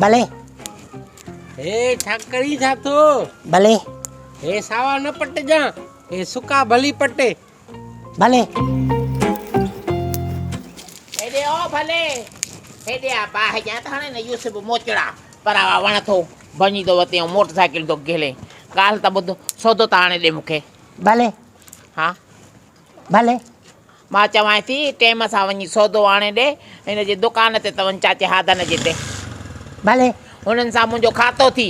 بلي. هي ڇا ڪرين ٿا ٿو. بلي. هي ساوا نه پٽجان هي سڪا ڀلي پٽي. بلي. هيڏي او ڀلي. هيڏي آ باهه جان ته هاڻي نه يوسف موچڙا پراوا وڻ ٿو ڀڃي ٿو وتي ۽ موٽر سائيڪل ٿو گهلي ڳالهه ته ٻڌ سودو ته آڻي ڏي مون کي. بلي. ها. بلي. مان چوانء ٿي ٽيم سان وڃي سودو آڻي ڏي، هن جي دڪان تي ته وڃ چاچي هادن جي تي. ڀلي، هنن سان منهنجو کاتو ٿي.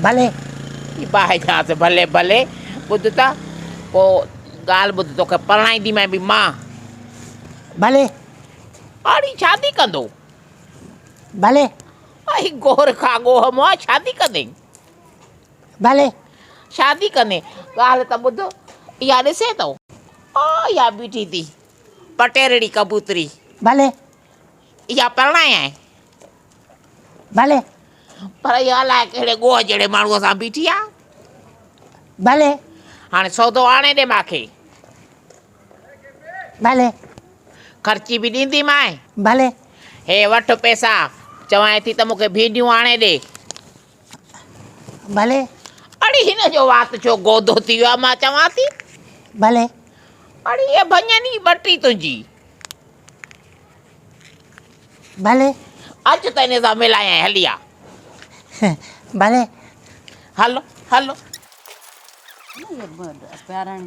ڀلي. جي باهه چانس ڀلي ڀلي، ٻڌ ته پوء ڳالهه ٻڌ توکي پرڻائينديمانء به مان. ڀلي. هاڙهي شادي ڪندو؟ ڀلي. اهي گور کاڳوهه مئا شادي ڪندين؟ ڀلي. شادي ڪندين؟ ڳالهه ته ٻڌ، اها ڏسين ٿو. آء اها بيٺي ٿي پٽيرڙي ڪبوتري. ڀلي. اها پرڻايائين؟ ڀلي. پر اها الاء ڪهڙي ڳوهه جهڙي ماڻهوء سان بيٺي آ؟ ڀلي. هاڻي سودو آڻي ڏي مان کي. ڀلي. خرچي به ڏيندي مانء. ڀلي. هي وٺ پئسا، چوانء ٿي ته مون کي ڀينڊيون آڻي ڏي. ڀلي. اڙي هن جو وات ڇو گودو ٿي ويو آهي مان چوان ٿي. ڀلي. اڙي هيء ڀڃن ئي ٻٽي تنهنجي. ڀلي. اچ ته هن سان ملايانء هلي آ. ڀلي. هل هل.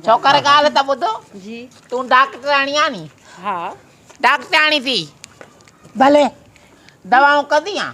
ڇوڪر ڳالهه ته ٻڌ. جي. تون ڊاڪٽرياڻي آهين ني. ها. ڊاڪٽرياڻي ٿي. ڀلي. دوائون ڪندينء.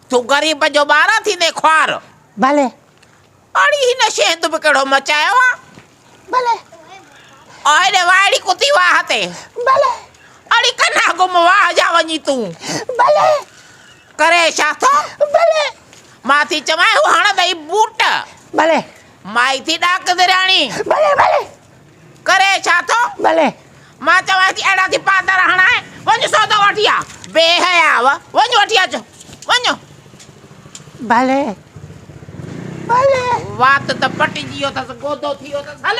تون غريب جو ٻار آن ٿيندين خوار. ڀلي. اڙي هن شي هند به ڪهڙو مچايو آ. ڀلي. او هيڏي وائڙي ڪتي واهه تي. ڀلي. اڙي ڪنا گم واهه جا وڃي تون. ڀلي. ڪري ڇا ٿو. ڀلي. مان ٿي چوانء هو هڻندئي بوٽ. ڀلي. مائي ٿي ڏاڪ درياڻي. ڀلي ڀلي. ڪري ڇا ٿو ڀلي مان چوانس ٿي اهڙا ٿي پاتر هڻائي وڃ سودو وٺي آ بي حياء وڃ وٺي اچ وڃ. ڀلي ڀلي. وات ته پٽجي ويو اٿس گودو ٿي ويو اٿس هل.